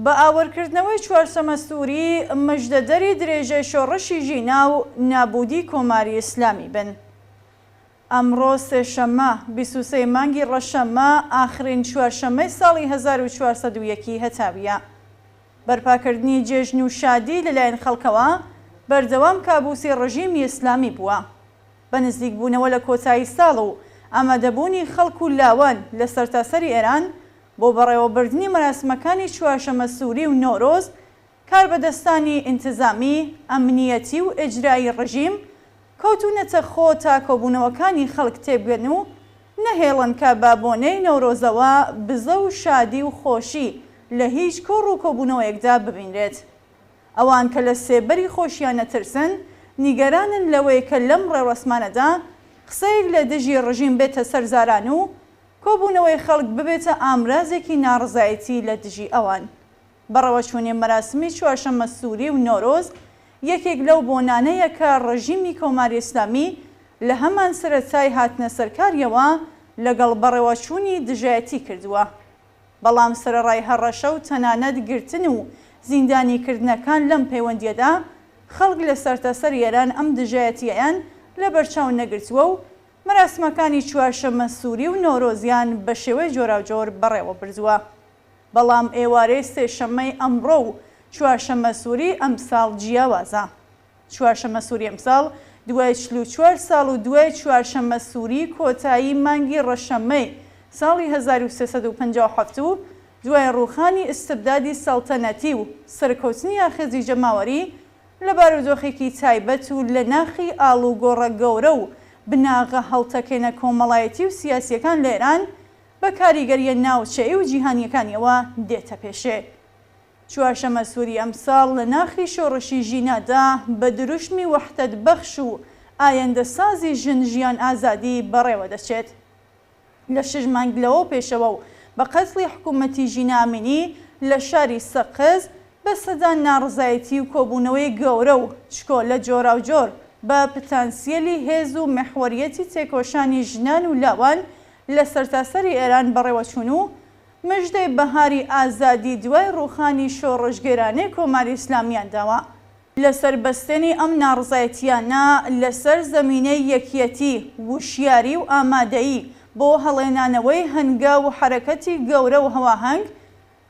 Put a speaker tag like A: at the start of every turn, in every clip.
A: بە ئاوەرکردنەوەی چوارسەمە سووری مژدەدەری درێژەی شۆڕشی ژینا و نابوودی کۆماری ئیسلامی بن. ئەمڕۆ سێشەممە بیست و سێ ی مانگی ڕەشەممە، ئاخرین چوارشەممەی ساڵی هەزار و چوار سەد و یەک ی هەتاوییە. بەرپاکردنی جێژن و شادی لەلایەن خەڵکەوە، بەردەوام کابوسی ڕژیمی ئیسلامی بووە. بە نزیکبوونەوە لە کۆتایی ساڵ و ئامادەبوونی خەڵک و لاوان لە سەرتاسەری ئێران بۆ بەڕێوەبردنی مەراسمەکانی چوارشەممە سووری و نەورۆز، کاربەدەستانی ئینتزامی، ئەمنیەتی و ئیجرایی ڕژیم کەوتوونەتە خۆ تا کۆبوونەوەکانی خەڵک تێبگەن و نەهێڵن کە بە بۆنەی نەورۆزەوە بزە و شادی و خۆشی لە هیچ کۆڕ و کۆبوونەوەیەکدا ببینرێت. ئەوان کە لە سێبەری خۆشیان ئەترسن، نیگەرانن لەوەی کە لەم ڕێوڕەسمانەدا قسەیەک لە دژی ڕژیم بێتە سەر زاران و کۆبوونەوەی خەڵک ببێتە ئامرازێکی ناڕەزایەتی لە دژی ئەوان. بەڕەوەچوونی مەراسمی چوارشەممە سووری و نۆرۆز یەکێک لەو بۆنانەیە کە ڕێژیمی کۆماری ئیسلامی لە هەمان سەرەتای هاتنە سەرکارییەوە لەگەڵ بەڕێوەچوونی دژایەتی کردووە، بەڵام سەرەڕای هەڕەشە و تەنانەت گرتن و زیندانیکردنەکان لەم پەیوەندییەدا، خەڵک لە سەرتاسەر ئێران ئەم دژایەتییەیان لەبەرچاو نەگرتووە و مەراسمەکانی چوارشەممە سووری و نۆرۆزیان بە شێوەی جۆراوجۆر بەڕێوە بردووە. بەڵام ئێوارەی سێشەممەی ئەمڕۆ و چوارشەممەسووری ئەمساڵ جیاوازە. چوارشەممەسووری ئەمساڵ دوای چل و چوار ساڵ و دوای چوارشەممەسووری کۆتایی مانگی ڕەشەممەی ساڵی هەزار و سێ سەد و پەنجا و حەفت و دوای ڕووخانی ئیستبدادی سەڵتەنەتی و سەرکەوتنی ئاخێزی جەماوەری لە بارودۆخێکی تایبەت و لە ناخی ئاڵوگۆڕە گەورە و بناغە هەڵتەکێنە کۆمەڵایەتی و سیاسییەکان لە ئێران بە کاریگەرییە ناوچەیی و جیهانییەکانییەوە دێتە پێشێ. چوارشەمەسووری ئەمساڵ لە ناخی شۆڕشی ژینادا بە دروشمی وەحدەت بەخش و ئایندەسازی ژن ژیان ئازادی بەڕێوە دەچێت. لە شەش مانگ لەوەو پێشەوە و بە قەتڵی حکوومەتی ژینا ئەمینی لە شاری سەقز بە سەدان ناڕزایەتی و کۆبوونەوەی گەورە و چکۆلە جۆراوجۆر بە پتانسییەلی هێز و مەحوەرییەتی تێکۆشانی ژنان و لاوان لە سەرتاسەری ئێران بەڕێوەچوون و مژدەی بەهاری ئازادی دوای ڕووخانی شۆڕشگێرانەی کۆماری ئیسلامییان داوە. لەسەر بەستێنی ئەم ناڕەزایەتییانە لەسەر زەمینەی یەکیەتی، وشیاری و ئامادەیی بۆ هەڵێنانەوەی هەنگاو و حەرەکەتی گەورە و هەواهەنگ،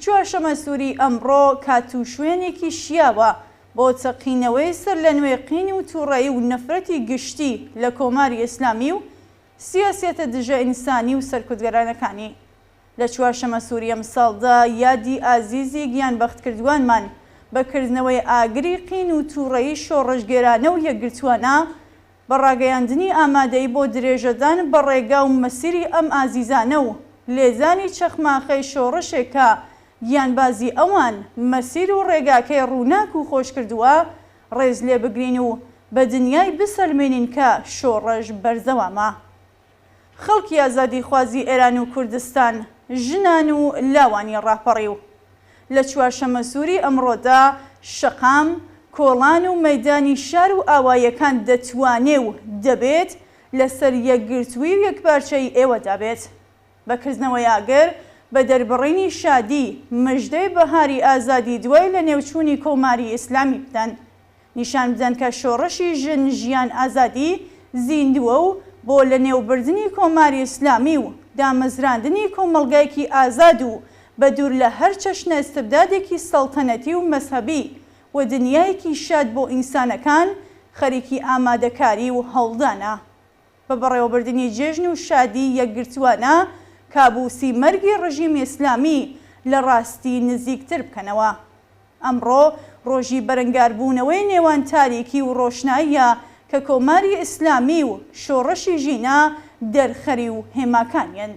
A: چوارشەممە سووری ئەمڕۆ کات و شوێنێکی شیاوە بۆ چەقینەوەی سەرلەنوێ قین و تووڕەیی و نەفرەتی گشتی لە کۆماری ئیسلامی و سیاسیەتە دژە ئینسانی و سەرکوتگەرانەکانی. لە چوارشەمە سوری ئەمساڵدا یادی ئازیزی گیانبەختکردوانمان بە کردنەوەی ئاگری قین و توڕەیی شۆڕشگێرانە و یەکگرتوانە بە ڕاگەیاندنی ئامادەیی بۆ درێژەدان بە ڕێگا و مەسیری ئەم ئازیزانە و لێزانی چەخماخەی شۆڕشێک کە گیانبازی ئەوان مەسیر و ڕێگاکەی ڕووناک و خۆشکردوە ڕێز لێ بگرین و بە دنیای بسەلمێنین کە شۆڕش بەردەوامە. خەڵکی ئازادیخوازی ئێران و کوردستان، ژنان و لاوانی ڕاپەڕیو، لە چوارشەمەسووری ئەمڕۆدا، شەقام، کۆڵان و مەیدانی شار و ئاواییەکان دەتوانێ و دەبێت لەسەر یەکگرتووی و یەکپارچەیی ئێوەدا بێت. بە کردنەوەی ئاگر، بە دەربڕینی شادی، مژدەی بەهاری ئازادی دوای لەنێوچوونی کۆماری ئیسلامی بدەن. نیشان بدەن کە شۆڕشی ژن، ژیان، ئازادی زیندووە و بۆ لەنێوبردنی کۆماری ئیسلامی و دامەزراندنی کۆمەڵگایەکی ئازاد و بە دوور لە هەر چەشنە ئیستبدادێکی سەڵتەنەتی و مەزهەبی و دنیایەکی شاد بۆ ئینسانەکان خەریکی ئامادەکاری و هەوڵدانە. بە بەڕێوەبردنی جێژن و شادی یەکگرتووانە کابوسی مەرگی ڕژیمی ئیسلامی لە ڕاستی نزیکتر بکەنەوە. ئەمڕۆ ڕۆژی بەرەنگاربوونەوەی نێوان تاریکی و ڕۆشناییە کە کۆماری ئیسلامی و شۆڕشی ژینا دەرخەری و هێماکانیەن.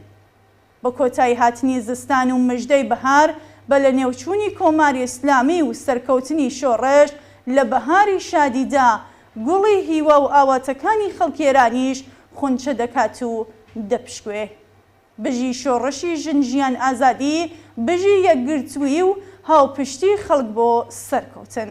A: بە کۆتایی هاتنی زستان و مژدەی بەهار، بە لەنێوچوونی کۆماری ئیسلامی و سەرکەوتنی شۆڕش، لە بەهاری شادیدا، گوڵی هیوا و ئاواتەکانی خەڵکی ئێرانیش خونچە دەکات و دەپشکوێ. بژی شۆڕشی ژن ژیان ئازادی، بژی یەکگرتوویی و هاوپشتی خەڵک بۆ سەرکەوتن.